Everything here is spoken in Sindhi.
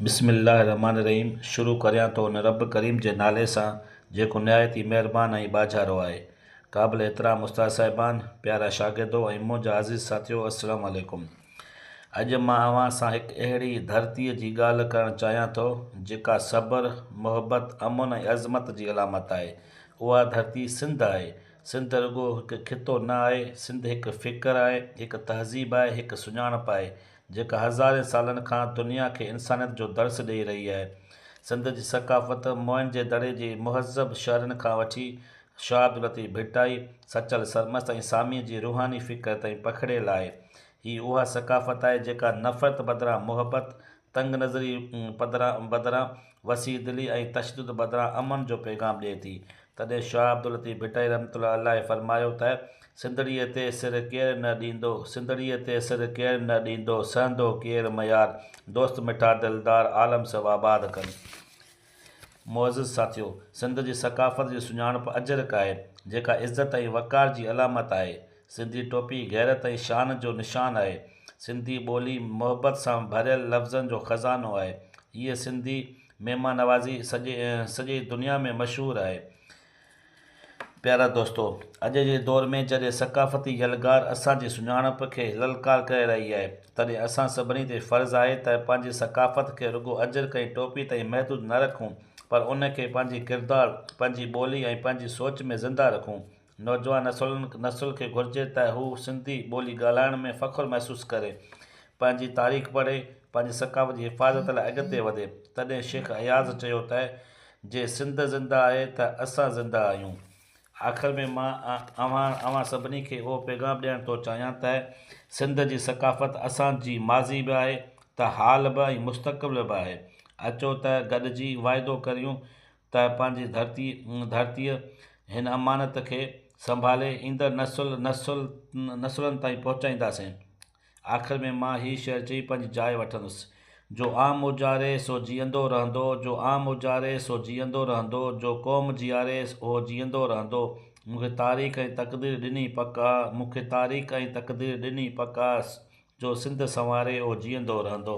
بسم الله الرحمٰن الرحيم شروع ڪريان ٿو ان رب ڪريم جي نالي سان جيڪو نهايت ئي مهربان ۽ ٻاجهارو آهي. قابل احترام استاد صاحبان، پيارا شاگردو ۽ منهنجا عزيز ساٿيو السلام عليڪم. اڄ مان اوهان سان هڪ اهڙي ڌرتي جي ڳالهه ڪرڻ چاهيان ٿو جيڪا صبر، محبت، امن ۽ عظمت جي علامت آهي. اها ڌرتي سنڌ آهي. سنڌ رڳو هڪ خطو نه آهي، سنڌ هڪ فڪر آهي، هڪ تهذيب آهي، هڪ سڃاڻپ آهي. جيڪا هزارين سالن کان دنيا کي انسانيت جو درس ڏئي رهي آهي. سنڌ جي ثقافت موئن جي دڙي جي مهذب شهرن کان وٺي شاه عبداللطيف ڀٽائي، سچل سرمست ۽ ساميء جي روحاني فڪر تائين پکڙيل آهي. هي اها ثقافت آهي جيڪا نفرت بدران محبت، تنگ نظري پدران بدران وسيع دلي ۽ تشدد بدران امن جو پيغام ڏئي ٿي تڏهن شاهه عبداللطيف ڀٽائي رحمة الله عليه فرمايو ته سنڌڙيء تي سر ڪير نه ڏيندو، سنڌڙيء تي سر ڪير نه ڏيندو، سهندو ڪير ميار، دوست مٺا دلدار عالم سڀ آباد ڪن. معزز ساٿيو! سنڌ جي ثقافت جي سڃاڻپ اجرڪ آهي، جيڪا عزت ۽ وقار جي علامت آهي. سنڌي ٽوپي غيرت ۽ شان جو نشان آهي. سنڌي ٻولي محبت سان ڀريل لفظن جو خزانو آهي. هيء سنڌي مهمان نوازي سڄي سڄي دنيا ۾ مشهور آهي. پيارا دوستو! اڄ جي دور ۾ جڏهن ثقافتي يلغار اسان جي سڃاڻپ کي للڪار ڪري رهي آهي، تڏهن اسان سڀني تي فرض آهي ته پنهنجي ثقافت کي رڳو اجرڪ ۽ ٽوپي تائين محدود نه رکون، پر ان کي پنهنجي ڪردار، پنهنجي ٻولي ۽ پنهنجي سوچ ۾ زنده رکون. نوجوان نسل نسل کي گهرجي ته هو سنڌي ٻولي ڳالهائڻ ۾ فخر محسوس ڪري، پنهنجي تاريخ پڙهي، پنهنجي ثقافت جي حفاظت لاء اڳتي وڌي. تڏهن شيخ اياز چيو ته جي سنڌ زنده آهي ته اسان زنده آهيون. آخر ۾ مان اوهان اوهان سڀني کي اهو پيغام ڏيڻ ٿو چاهيان ته سنڌ جي ثقافت اسان جي ماضي به آهي ته حال به ۽ مستقبل به آهي. اچو ته گڏجي واعدو ڪريون ته پنهنجي ڌرتي ڌرتيء هن امانت کي سنڀالي ايندڙ نسل نسل نسلن تائين پهچائينداسين. آخر ۾ مان هي شعر چئي پنهنجي جاء وٺندس، جو عام اجاري سو جيئندو رهندو، جو عام اجاري سو جيئندو رهندو، جو قوم جيئاري اهو جيئندو رهندو، مون کي تاريخ ۽ تقدير ڏني پڪ آ، مون کي تاريخ ۽ تقدير ڏني پڪ آ، جو سنڌ سنواري اهو جيئندو رهندو.